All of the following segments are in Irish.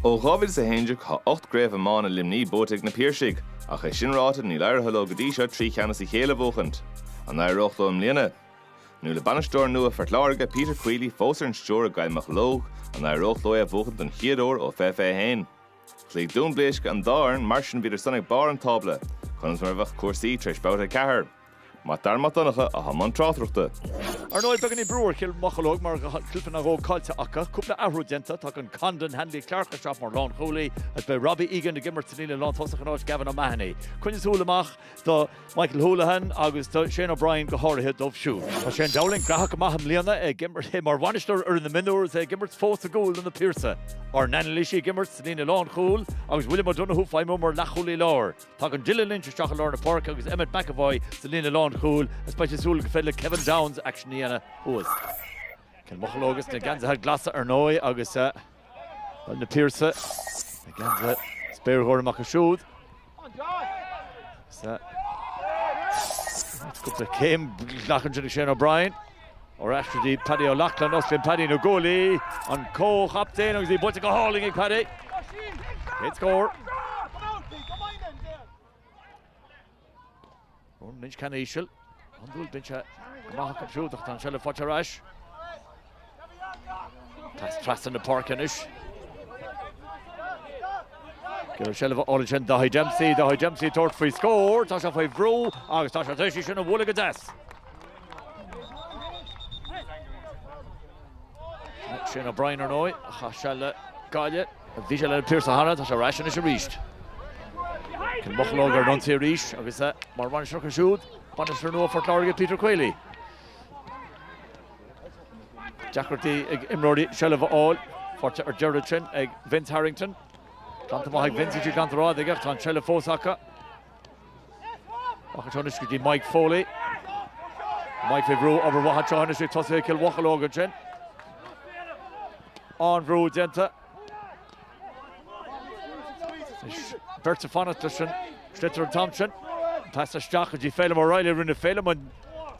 Ó 2011 tá ocht gcraobh iomána Luimnigh buaite ag na Piarsaigh, ach é sin ráite níl éirithe leo go dtí seo trí cheann as a chéile a bhuachaint. An éireoidh leo i mbliana? Nó le bainisteoir nua Phort Láirge, Peter Queally, fós ar an stiúir i gCill Mocheallóg, an éireoidh leo é a bhuachaint don chéad uair ó 2021? Chloígh Dún Bléisce an dá fhoireann, mar sin bhíodar san ag barr an tábla. Conas mar a bheadh cúrsaí tar éis Babhta 4? Mac Dara Mac Donncha atá i mbun tráchtaireachta. Ar ndóigh, beagáinín brú ar Chill Mocheallóg mar go bhfuil ceann nó dhó caillte acu. Cúpla athrú déanta, tagann Conor Hanley Clarke isteach mar lánchúlaí agus beidh Robbie Egan ag imirt san líne lántosach in áit Gavin O'Mahony. Coinnigh súil amach do Michael Houlihan agus do Shane O'Brien go háirithe dóibh siúd. Tá Shane Dowling gnóthach go maith i mbliana, é ag imirt mar bhainisteoir ar na mionúir is é ag imirt fós i gcúl do Na Piarsaigh. Ár n-anailísí ag imirt sa líne lánchúil agus William O'Donoghue ag feidhmiú mar leathchúlaí láir. Tagann Dylan Lynch isteach i lár na páirce agus Emmet McEvoy sa líne lánchúil, is beidh siad ag súil gur féidir le Kevin Downes aicsean a dhéanamh thuas. Cill Mocheallóg agus na geansaithe glasa ar ndóigh agus eh, na Piarsaigh na geansaithe spéirghorma acu siúd. Cúpla céim glactha ansin Shane O'Brien. Ar ais go dtí, Paddy O'Loughlin, osclaíonn Paddy na guaillí, an comhchaptaen agus í buailte go hálainn ag Paddy. Céad scór. Ronan Lynch, ceann íseal, an dúil binse go maith acu siúd ach tá an seilbh faighte ar ais. Pas trasna na páirce anois. I seilbh ansin Daithí Dempsey, Daithí Dempsey ag tabhairt faoi scór, tá sé faoi bhrú agus tá sé tar éis í sin a bhualadh go deas. Shane O'Brien ar ndóigh, a chaith seal le Gaillimh. Bhí sé leis na Piarsaigh cheana, tá sé ar ais anois arís. Cill Mocheallóg ar an ionsaí arís agus mar bhainisteoir acu siúd, bainisteoir nua Phort Láirge, Peter Queally. Deacrachtaí ag imreoirí seilbh a fháil, faighte ar deireadh ansin ag Vince Harrington. Glanta amach ag Vince, í glanta rófhada aige ach tá an tseilbh fós acu. Amach anseo anois go dtí Mike Foley. Mike faoi bhrú obair mhaith anseo anois ag tosaithe Chill Mocheallóg ansin. An-bhrú déanta. Is beirt ag fanacht leis an sliotar an t-am sin. Pas isteach go dtí Phelim O'Reilly. Rinne Phelim an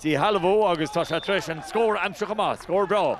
díshealbhú agus tá sé tar éis an scór a aimsiú chomh maith. Scór breá.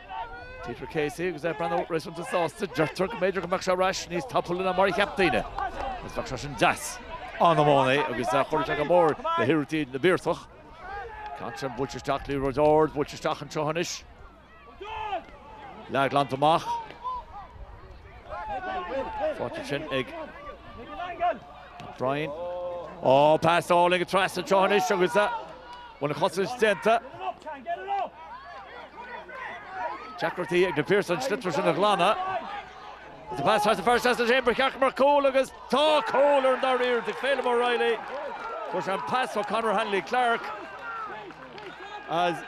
Peter Casey agus é ag breathnú réasúnta sásta, deirtear go mb'fhéidir go mbeadh sé ar ais níos tapúla ná mar a cheap daoine agus bheadh sé sin deas an-iománaí é agus chuirfeadh sé go mór le hiarrachtaí na bPiarsach. Ceann sin buailte isteach liathróid ard, buailte isteach anseo anois. Leath glanta amach. Faighte ansin ag. Brien. Ó, pas álainn aige trasna anseo anois agus an chosaint déanta. Deacrachtaí ag Na Piarsaigh an sliotar sin a ghlanadh. Is pas trasna fear seasta leis féin ba cheart go mbeadh cúl agus tá cúl i ndáiríre do Phelim O'Reilly. Fuair sé an pas ó Conor Hanley Clarke is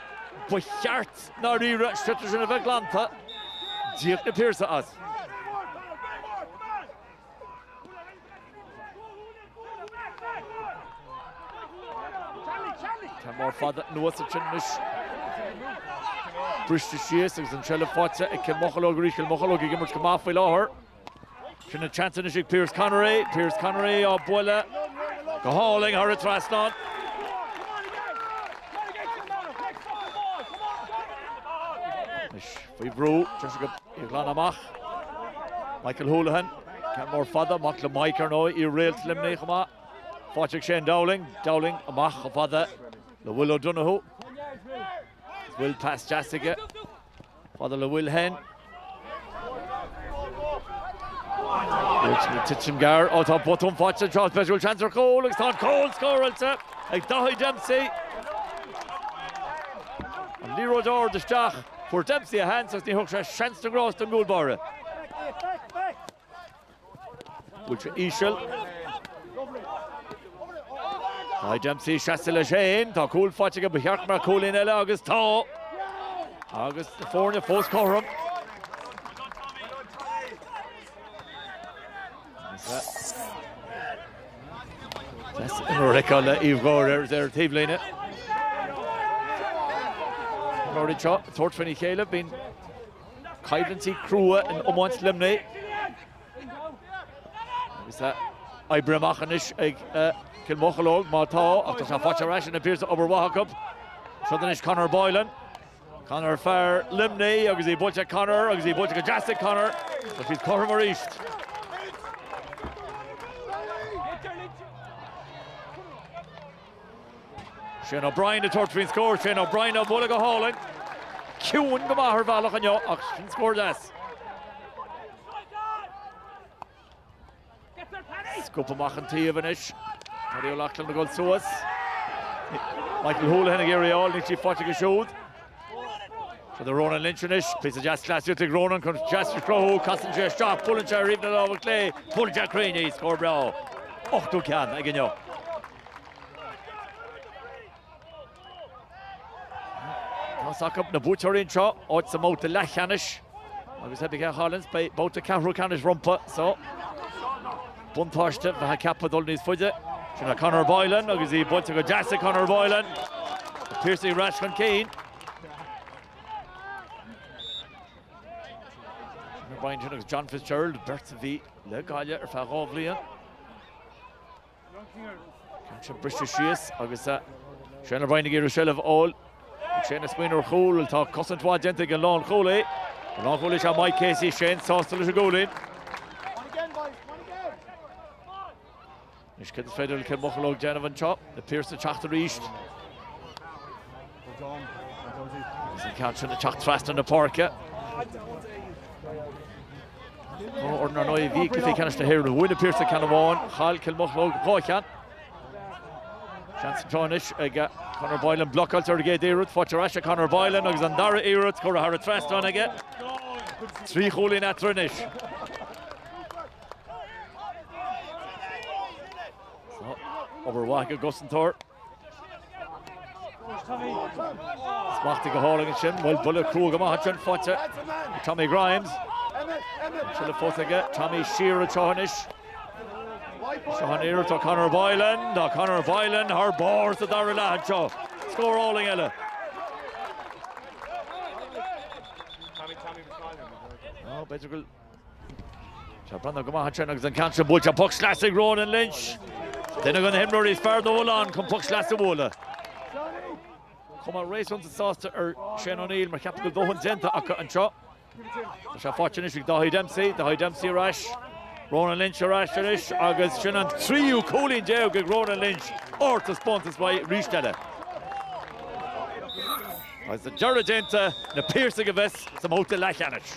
ba cheart i ndáiríre an sliotar sin a bheith glanta. D'íoc Na Piarsaigh as. Ceann mór fada anuas ansin anois. Briste síos agus an tseilbh faighte ag Cill Mocheallóg arís. Cill Mocheallóg ag imirt go maith faoi láthair. Sin an seans anois ag Pierce Connery. Pierce Connery á bualadh go hálainn thar an trasnán. Faoi bhrú, deis aige í a ghlanadh amach, Michael Houlihan, ceann mór fada, mac le Mike, ar ndóigh, iar-réalt Luimnigh chomh maith, faighte ag Shane Dowling, Dowling, amach chomh fada le Will O'Donoghue. Is Will pas deas aige, fada le Will Henn. Titim gearr, ó tá botún faighte anseo is b'fhéidir go bhfuil seans ar chúl agus tá an cúl scóráilte ag Daithí Dempsey. An liathróid ard isteach. Fuair Dempsey a sheans agus ní thug sé seans na ngrást don gcúl báire. Bhuail sé íseal. Daithí Dempsey seasamh leis fhéin. Tá cúl faighte aige ba cheart go mbeadh cúilín eile agus tá agus na foirne fós cothrom. Ricá le Uíbh Gháir ar ar taobhlíne. Na foirne seo ag tabhairt faoina chéile, bíonn coimhlintí crua in iomáint Luimnigh. Agus tá oibrithe amach anois ag Cill Mocheallóg má tá, ach tá sé faighte ar ais ag Na Piarsaigh, obair mhaith acu. Seo anois Conor Boylan. Conor fear Luimnigh agus í buailte ag Conor agus í buailte go deas ag Conor agus siad cothrom aríst. Shane O'Brien ag tabhairt faoin scór, Shane O'Brien á bhualadh go hálainn. Ciúin go maith ar bhealach inniu ach sin scór deas. Scuabtha amach an taobh anois. Paddy O'Loughlin ag dul suas. Michael Houlihan ag iarraidh í a fháil, níl sí faighte aige siúd. Fada le Ronan Lynch anois. Píosa deas cleasaíocht ag Ronan chun deis a chruthú. Casann sé isteach, buaileann sé í ar thaobh na láimhe clé. Buaileann sé cruinn í, scór breá. Ochtú ceann aige inniu. Tá a fhios acu na buaiteoirí anseo, áit sa mbabhta leathcheannais agus má bíonn sé ag cailliúint, beidh babhta ceathrú ceannais rompu so. Buntáiste cheapfá dul níos faide. Sin é Conor Boylan agus í buailte go deas ag Conor Boylan. Piarsaigh ar ais chun cinn. Conor Boylan agus John Fitzgerald, beirt a bhí le Gaillimh ar feadh dhá bhliain. Tá sé briste síos agus Shane O'Brien ag iarraidh seilbh a fháil. Shane ag smaoineamh ar chúl, tá cosaint mhaith déanta ag an lánchúlaí. An lánchúlaí is ea Mike Casey, Shane sásta leis an gcúilín. Anois cad is féidir le Cill Mocheallóg déanamh anseo, na Piarsaigh ag teacht arís. Is an ceann sin ag teacht trasna na páirce. Ar ndóigh i gcluiche ceannais na hÉireann, bhuaigh na Piarsaigh ceann amháin, chaill Cill Mocheallóg dhá cheann. Seans atá anois ag Conor Boylan blocáilte ar an gcéad iarracht, fáilte ar ais ag Conor Boylan agus an dara iarracht curtha thar an trasnán aige. Trí chúilín eatarthu anois. Obair mhaith ag an gcosantóir. Smachtaithe go hálainn ansin, bhuel buille cruaidh amach anseo faighte ag Tommy Grimes. Fós aige, Tommy siar anseo anois. Seo an iarracht ó Conor Boylan, tá Conor Boylan thar barr sa dara leath anseo. Scór álainn eile. Ná b'fhéidir go. Tá ag breathnú go maith ansin agus an ceann sin buailte, poc sleasa ag Ronan Lynch. Duine de na himreoirí is fearr dá bhfuil ann chun poc sleasa a bhualadh. Chomh maith, réasúnta sásta ar Shane O'Neill mar cheapfá go bhfuil dóthain déanta acu anseo. Tá sé faighte anois ag Dáithí Dempsey, Dáithí Dempsey ar ais, Ronan Lynch ar ais anois agus sin an tríú cúilín déag ag Ronan Lynch, ard is suntasach arís eile. Agus an deireadh déanta, na Piarsaigh a bheas sa mbabhta leathcheannais.